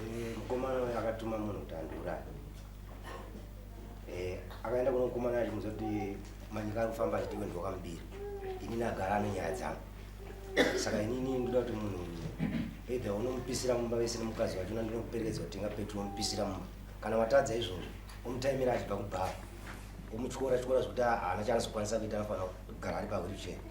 Eh, mukomana uyu akatuma munhu kuti andiuraye eh, akaenda kuno mukomana achi muza kuti manyika ari kufamba achitiwe ndiwakamubiri ini nagara ano nyaya dzangu saka inini ndoda kuti munhu either unomupisira mumba vese nemukadzi wacho na ndinokuperekedza kutenga petro omupisira mumba kana watadza izvozvo omutaimira achibva kubhaa omutyora tyora zvekuti haana chaanozokwanisa kuita anofanira kugara ari pahwiricheni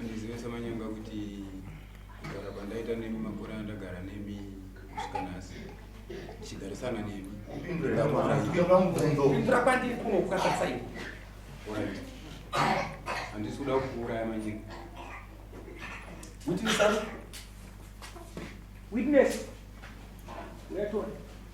Andiziva samanyanga kuti kugara kwandaita nemi makore andagara nemi kusvika nhasi ndichigarisana nemi ndapindura kwandiri kuno kukasasai handisi kuda kukuuraya manyika witness witness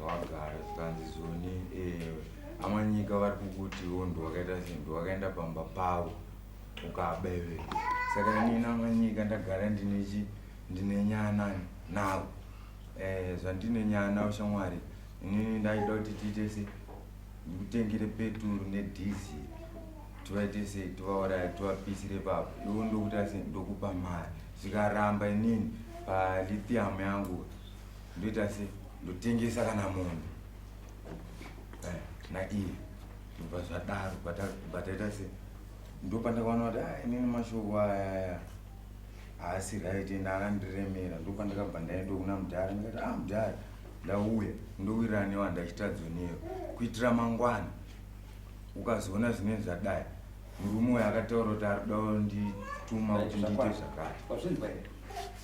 vagara zvikanzi zoni eh, amanyika vari kukutiwo ndiwakaita sei ndiwakaenda pamba pavo ukabeve saka inini amanyika ndagara ndinechi ndine nyana navo eh, zvandine nyana navo shamwari inini ndaida kuti tiite se ndikutengere peturu nedhizi tivaite sei tivauraya tivapisire papo ivo ndokuita se ndokupa mari zvikaramba inini palithium yangu ndoita se ndotengesa kana mombe eh, naiye ndobva zvadaro bataita se ndopandakaona kuti ah, inini mashoko ayaya haasi right ende akandiremera ndopandakabva ndaenda kuna mudhara ndikati ah mudhara ndauya ndowirana newa ndachitadzonero kuitira mangwana ukazoona zvinenge zvadai murume uyo akataura kuti ari kuda kundituma kuti ndiite zvakati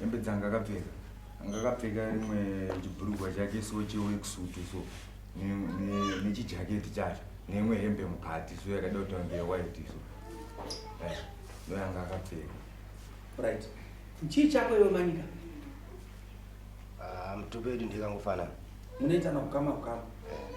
hembe dzanga akapfeka anga akapfeka rimwe chibhurugwa chake so cheweksutu so nechijaketi chacho neimwe hembe mukati so yakada kutaura ndeyewhite so eh, ndoyanga akapfeka right chii chako iwe manika ah, mutupedu ndikangofanana munoitana kukama kukama eh.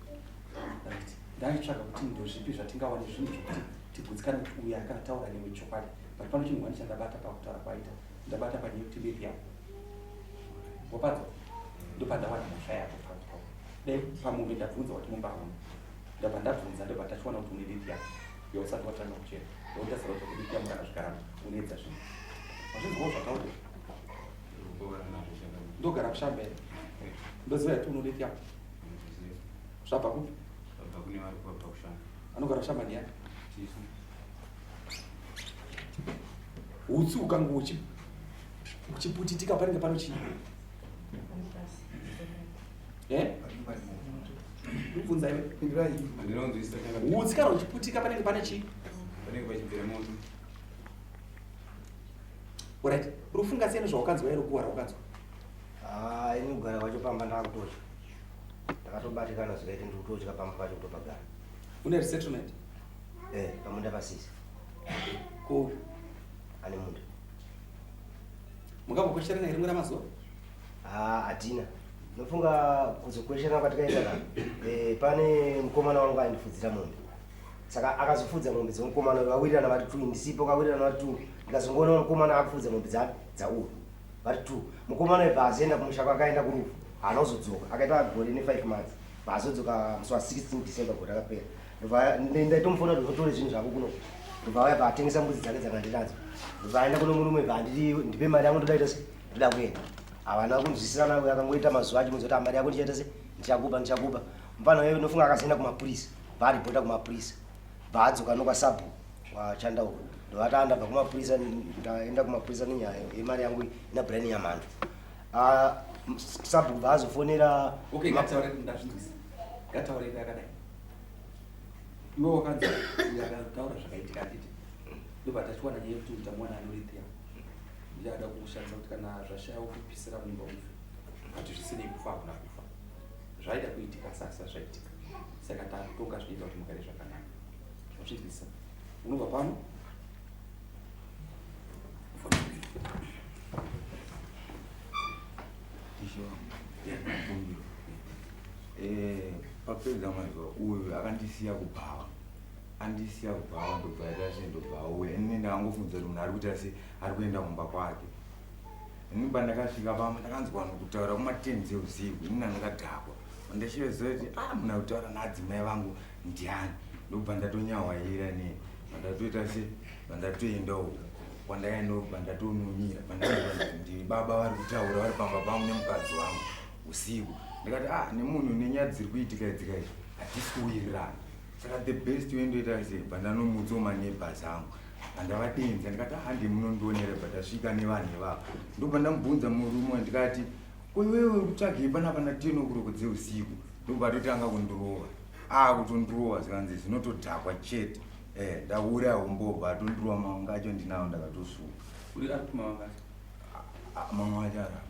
right ndaitsvaga kuti ndozvipi zvatingawane zvinhu zvokuti tigudzikane kuti uyu akana taura newe chokwadi but pano chinhu wani chandabata pakutaura kwaita ndabata panyaya yekuti bevi yako wapadzo ndopandawana mhosva yako paa dai pamombe ndabvunza wati mumbaona ndabva ndabvunza ndobva tachiwana kuti une bevi yako yausati watanga kuchera ndotasara kuti bevi yako ndakazvigarama unoedza zvinhu hazvinzwawo zvataura ndogara kushambere ndoziva yati unobevi yako Zvabva kupi? Zvabva kune vari kubva kushamba. Anogara kushamba ndiani? Chifu. Utsi ukangu uchi uchiputitika panenge pano chii? Eh? Ndibvunza iwe. Pindirai. Ndinonzwisisa changa. Utsi kana uchiputika panenge pane chii? Panenge pachibvira moto. Alright. Urufunga sei nezvawakanzwa ero kuwa rawakanzwa? Haa ini kugara kwacho pamba ndakutotya. Ndakatobatikana zvikaita ndiri kutotya pamba pacho kutopagara. Une resettlement? Eh, pamunda pasisi. Ku ane munda. Mukambokwesherana here mwera mazuva? Haa hatina. Ndofunga kuzokwesherana kwatikaita ka. Eh, pane mukomana wangu aindifudzira mombe. Saka akazofudza mombe dzemukomana uyu vawirirana vari two ndisipo kawirirana vari two. Ndikazongoona mukomana akufudza mombe dza dzauri. vari two mukomana uyu paazoenda kumusha kwake aenda kurufu haana kuzodzoka akaita gore nefive months paazodzoka musi wa 16 december gore rakapera ndobva ndaitomufona kuti otore zvinhu zvako kuno ndobva auya paatengesa mbudzi dzake dzakandinadzo ndobva aenda kuno murume bva anditi ndipe mari yangu ndodaita se ndoda kuenda havana kunzwisisana uyo akangoita mazuva acho muzoti mari yako ndichaita se ndichakupa ndichakupa mfana uyo unofunga akazoenda kumapurisa bva aripota kumapurisa bva adzoka nokwasabhu wachanda uko ndovata ndabva kumapurisa ndaenda kumapurisa nenyaya yemari yangu ina brian nyamhando ah, sabhu bva azofonera okay ngataure ndazvinzwisa ngataure yakadai iwe wakanzi akataura zvakaitika atiti ndobva tachiwana nyaya yekuti uta mwana anorithia ndiye ada kukushandisa kuti kana zvashaya wokupisira mumba ufe but zvisinei kufa hakuna kufa zvaida kuitika sasa zvaitika saka takutonga zvichiita kuti mugare zvakanaka zvazvinzwisa unobva pano eh, papedza mazuva uyu akandisiya kubhawa andisiya kubhawa ndobva aita se ndobva auya ini ndakangofunza kuti munhu ari kuita se ari kuenda kumba kwake ini pandakasvika pamwe ndakanzwa vanhu kutaura kumatenzi eusiku ini nandakadhakwa ndachiveza kuti a ah, muna kutaura naadzimai vangu ndiani ndokubva ndatonyawaira ne vandatoita se vandatoenda uko kwandaenda kubva ndatonomira pandandi baba vari kutaura vari pamba pangu nemukadzi wangu usiku ndikati a ah, nemunhu nenyaya dziri kuitika idzika izvi hatisi kuwirirana saka the best way ndoita sei bva ndanomuudzawo maneighbors angu andavadenza ndikati handi ah, munondionera bva tasvika nevanhu ivavo ndobva ndamubvunza murume ndikati koiwewe uri kutsvagei panapa na ten okuroko dzeusiku ndobva atotanga kundirova akutondirova ah, zvikanzi zvinotodhakwa chete eh, ndaura umbobva atondirova mawanga acho ndinawo ndakatosuka mamwe acho arapa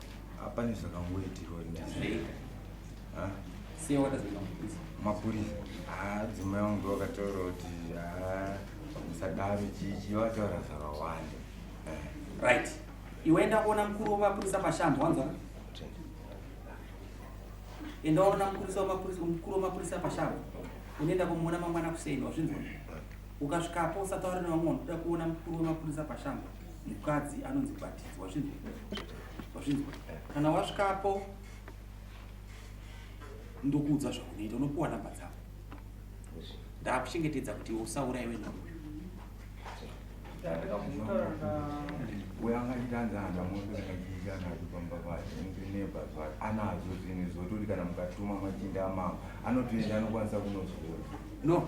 Hapana zvakangoitirwa mapurisa dzimwe yangu ndovakataura kuti musadaro chichi vataura zvakawanda right iwe enda kuona mukuru wemapurisa pashambo wanzwa enda unoona mukuru wemapurisa pashambo unoenda kumuona mangwana kuseni wazvinzwa ukasvikapo usataure nevamwe vanoda kuona mukuru wemapurisa pashambo mukadzi anonzi bhatidzo wazvinzwa wazvinzwa kana wasvikapo ndokuudza zvaunoita unopiwa namba dzako ndakuchengetedza kuti usauraiwe nhambo anazo zvinhu zvototi kana mukatuma machinda amama anotoenda anokwanisa kunozvona no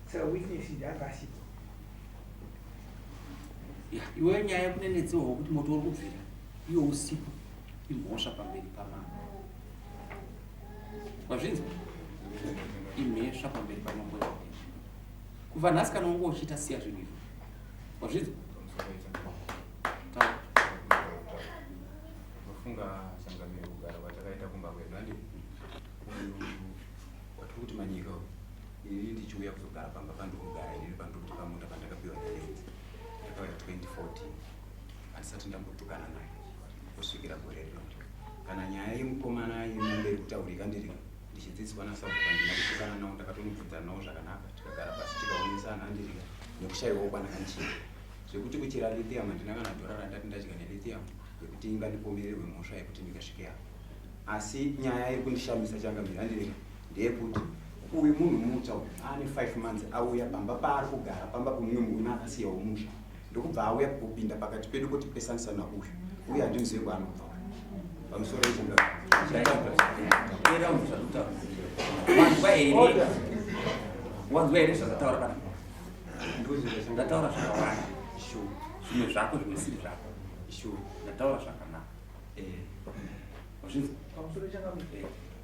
Saka witness ndi anga asipo. Ya, iwe nyaya yekunenetsewa wekuti moto uri kubvira iwe usipo imhosva pamberi pamama. Wazvinzwa? Imhesva pamberi pamambo yako. Kubva nhasi kana wanga uchiita siya zvinhu izvo. Wazvinzwa? Taura. Unofunga changamire kugara kwatakaita kumba kwedu handi? Uyu watiri kuti manyika uyu. ini ndichiuya kuzogara pamba pandikugara ini pandikuti pamunda pandakapiwa nalenzi ndakauya 2014 handisati ndambotukana naye kusvikira gore rino kana nyaya yemukomana yemamberi kutaurika ndiri ndichidzidziswa nasabuka ndina kutukana nawo ndakatonobvunza nawo zvakanaka tikagara pasi tikaonesana handiri nekushaiwawo kwanakanichii zvekuti kuchera lithium handina kana dhora randati ndadya nelithium yekuti ingandipomererwe mhosva yekuti ndingasvike apo asi nyaya yekundishamisa changamira ndiri ndeyekuti uyu munhu mutsva uyu aane five months auya pamba paari kugara pamba pemumwe murume akasiyawo musha ndokubva auya kupinda pakati pedu kuti pesanisana uyu uye handimuzive kwaanobva pamusoro wanzwa here zvakataura pana ndataura zvakawanda zvimwe zvako zvimwe siri zvako ndataura zvakanaka eh.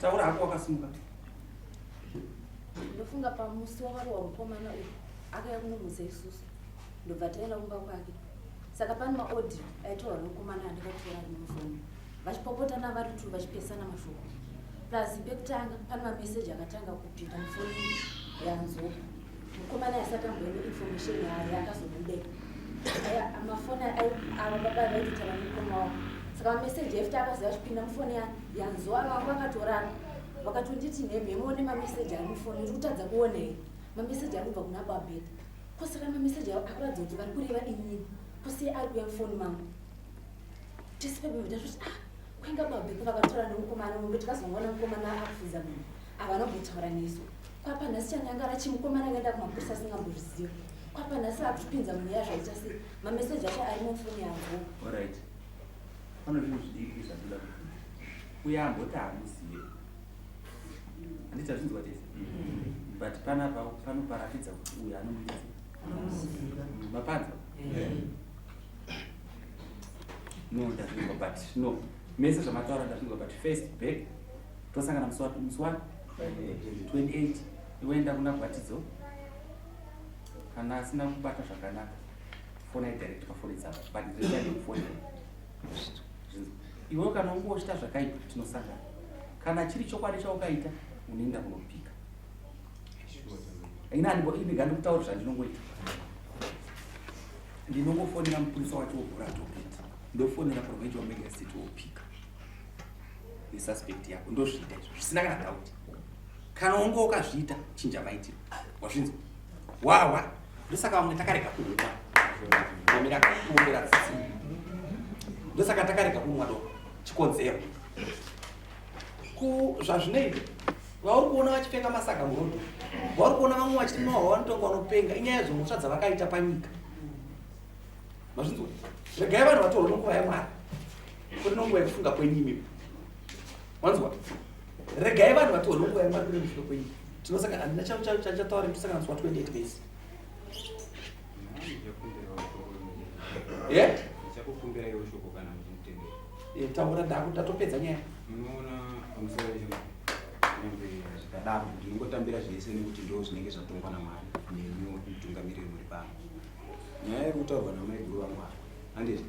taura hako wakasimuka ndofunga pamusi wakarohwa mukomana uyu akaya kunomuza isusu ndobva taenda kumba kwake saka pane maodhi aitaura nokomana andakatora ari mufoni vachipopotana vari two vachipesana mashoko plus pekutanga pane mameseji akatanga kupinda mufoni yanzo mukomana yasati amboine information yayo yakazobude mafoni ava baba vaitoita vamukoma wavo saka mameseji efte akaziva achipinda mufoni yanzo ava vangu vakatorana vakatonditi nhemhemo nemameseji ari mufoni iri kutadza kuonei mameseji ari kubva kuna babeta Ko saka mameseji avo akuratidza kuti vari kureva inini ko sei ari kuya mufoni mangu tese pebevita zvoti ah kwainga babheko vakatora nemukomana mumbe tikazongoona mukomana akufuza munhu havana kumbotaura nesu kwapa nhasi chanyangara chimukomana akaenda kumapurisa asingambozviziva kwapa nhasi vakutipinza munyaya zvaita sei mameseji acho ari mufoni yavo orit pane zvinhu zvidiki zvatida kufuza uye amboti hamuzive handiti azvinzwa tese but panapa panoparatidza kuti uyu anomuita mapanza no ndazvinzwa but no mese zvamataura ndazvinzwa but first back tosangana musi wapi musi wapi 28 iwoenda kuna gwatidzo kana asina kubata zvakanaka fonai direct pafoni dzavo but zvisaidi kufonera zvinzwa Iwe kana ungochita zvakaipa tinosangana. Kana chiri chokwadi chaukaita unoenda kunopika. Ini andibo ini gandi kutaura zvandinongoita. Ndinongofonera mupurisa wacho wobhura topita. Ndofonera provincial magistrate wopika. Ni suspect yako ndozviita izvo zvisina kana doubt. Kana ungo ukazviita chinja maitiro. Wazvinzwa? wawa ndosaka vamwe takarega kuhuma omera kuombera tsitsi ndosaka takarega kumwa doko chikonzero ku zvazvinoita vauri kuona vachipfeka masaga murodo vauri kuona vamwe vachiti mwawa vanotonga vanopenga inyaya dzomhosva dzavakaita panyika mazvinzwa regai vanhu vatorwa nenguva yamwari kuri nenguva yekufunga kwenyu imimi wanzwa regai vanhu vatiwo nonguva yamwari kune mushure kwenyu tinosangana handina chachataura tosangana zuva 28 days eh? eh, taura ndatopedza nyaya zvikadaro ndingotambira zvese nekuti ndo zvinenge zvatongwa namwari nemi mutungamiriri muri pano nyaya yekutaurwa namaiguru vamwari handizvo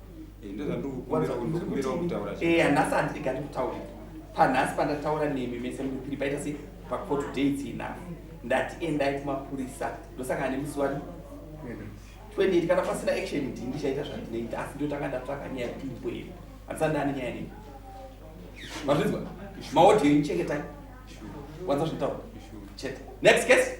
handasati ndega ndikutaura panhasi pandataura nemi mese mupiri paita se pacourt day its enough ndati endai kumapurisa ndosangana nemusi wani 28 kana pasina action ndi ndichaita zvandinoita asi ndotanga ndatsvaka nyaya kuti imbwei handisati ndane nyaya nemi mazvinzwa maodhiyo inichengeta wanza zvinotaura chete next case